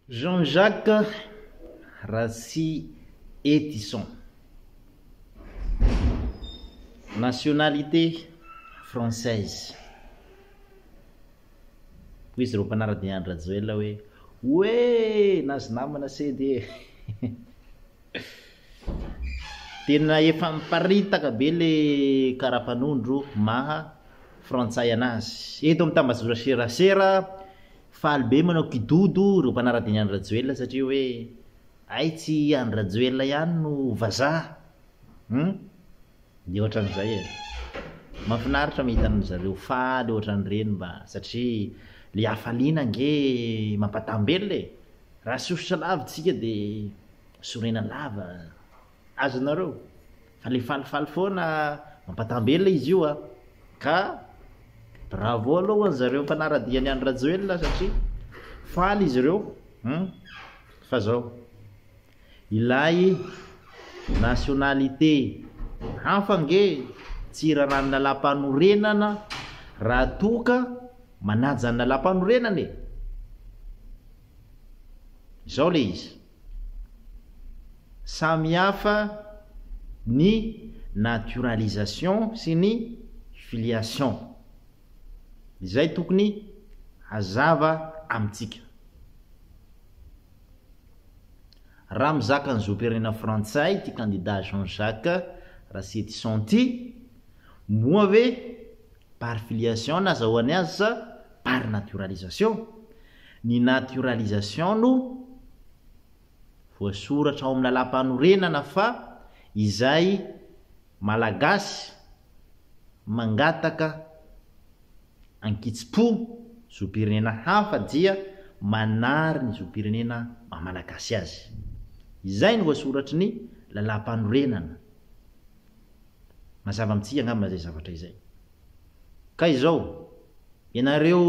Jean Jacques Ratsy Etison, nationalité française, hoy izy ireo mpanara-dia an-dry Rajoelina hoe, Oe nazy namana sedy e! Tena efa miparitaka be le karapanondro maha frantsay anazy. Eto amin'ny tambazora serasera, Faly be manao kidodo ireo mpanara-dia ny Andry Rajoelina satria hoe hay tsy i Andry Rajoelina ihany no vazaha hum dia ohatran'izay e! Mahafinaritra mahita an-dry zareo faly ohatran'ireny mba satria ilay hafaliana ange mampataham-belona e! Raha sosotra lavitra isika dia sorena lava. azonareo fa le falifaly foana mampatambelona izy io a ka bravo aloha ho an'zareo mpanaradia an'i Andry Rajoelina satria faly izy ireo hum fa zao ilay nationalité hafa ange tsy irarahan'ny lalàmpanorenana raha toa ka manaja ny lalàmpanorenana e izao le izy Samy hafa ny naturalisation sy ny filiation. Izay tokony hazava amintsika. Raha mizaka ny zom-pirenena frantsay ity kandida Jean Jacques Rasetison ity, moa ve par filiation nazahoany azy sa par naturalisation? Ny naturalisation no voasoratra ao amin'ny lalàmpanorenana fa izay Malagasy mangataka ankitsim-po zom-pirenena hafa dia manary ny zom-pirenena maha Malagasy azy. Izay no voasoratry ny lalàmpanorenana. Mazava amintsika angamba izay zavatra izay. Ka izao, ianareo.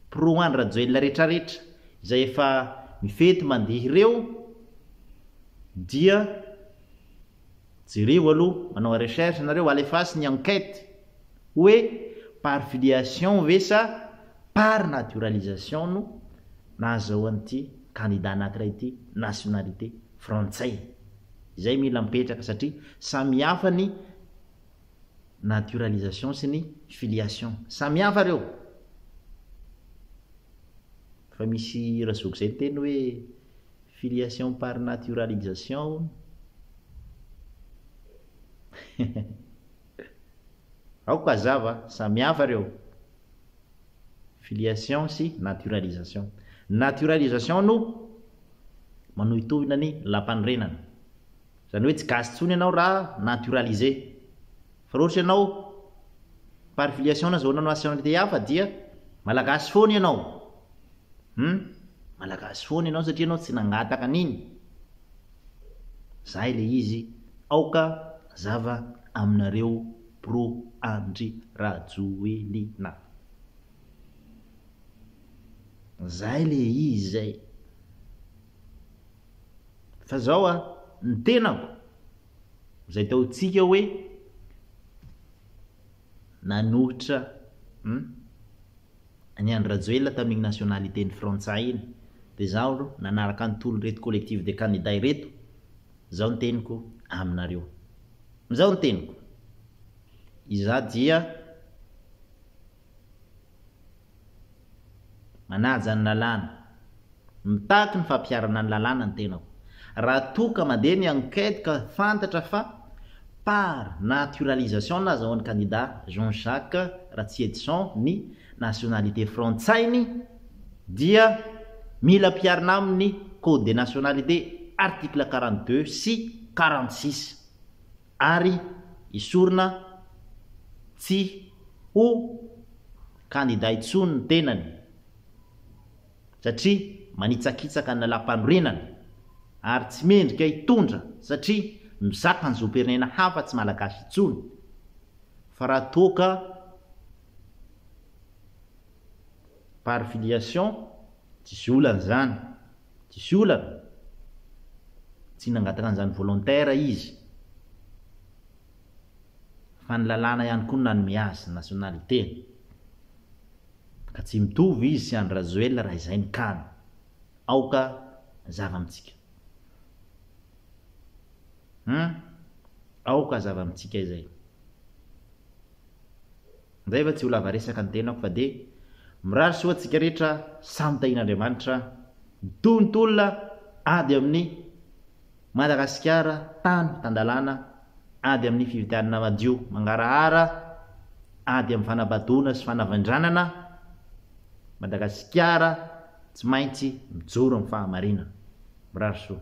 Pro Andry Rajoelina rehetra rehetra izay efa mifety mandeha ireo dia jereo aloha manao recherche nareo alefaso ny enquete oe par filiation ve sa par naturalisation no nahazaoan'ity candidat anakiray ity nationalité frantsay izay mila mipetraka satria samy hafa ny naturalisation sy ny filiation. Samihafa ireo. Efa misy hira zoky izay niteny hoe filiation par naturalisation hono. Aoka hazava, samihafa ireo. Filiation sy naturalisation. Ny naturalisation no manohitohina ny lampanorenana. Zany hoe tsy gasy tsony ianao ra naturalise. Fa ra ohatra ianao par filiation na zona nationalité hafa dia malagasy foana ianao. Hum. Malagasy foana ianao satria ianao tsy nangataka an'iny. Zay le izy. Aoka zava aminareo pro Andry Rajoelina. Zay le izy zay. Fa zao a, ny tenako, zay taontsika hoe nanohitra an'i Andry Rajoelina tamin'iny nationalité ny frantsay iny, dia zaho alo nanaraka an'i Tolo ireto collectif des candidats ireto, zao ny teniko aminareo. Zao ny teniko, izaho dia. Manaja ny lalàna. Mitaky ny fampiharana ny lalàna ny tenako. Raha toa ka mandeha ny enquête ka fantatra fa par naturalisation na azahoan'ny kandida Jean Jacques Ratsiedison ny nationalité frantsay-ny dia mila ampiharina aminy ny code des nationalités article quarante deux sy quarante six. ary hisorona tsy ho kandida intsony ny tenany satria manitsakitsaka ny lalàmpanorenana ary tsy mendrika hitondra satria mizaka ny zom-pirenena hafa tsy malagasy intsony fa raha toa ka par filiation Diso olana izany. Diso olana. Tsy nangataka an'izany volontaire izy. Fa ny lalàna ihany koa no nanome azy ny nationalité. Ka tsy mitovy izy sy Andry Rajoelina raha izay ny cas-ny. Aoka hazava amintsika. Hum. Aoka hazava amintsika izay. Ndray fa tsy ho lava resaka ny tenako fa dia mirary soa antsika rehetra samy tahian'Andriamanitra ny tontolona ady amin'ny Madagasikara tany tan-dalàna ady amin'ny fifidianana madio mangarahara ady amin'ny fanabadoana sy fanavindranana Madagasikara tsy maintsy mijoro amin'ny fahamarinana. Mirary soa.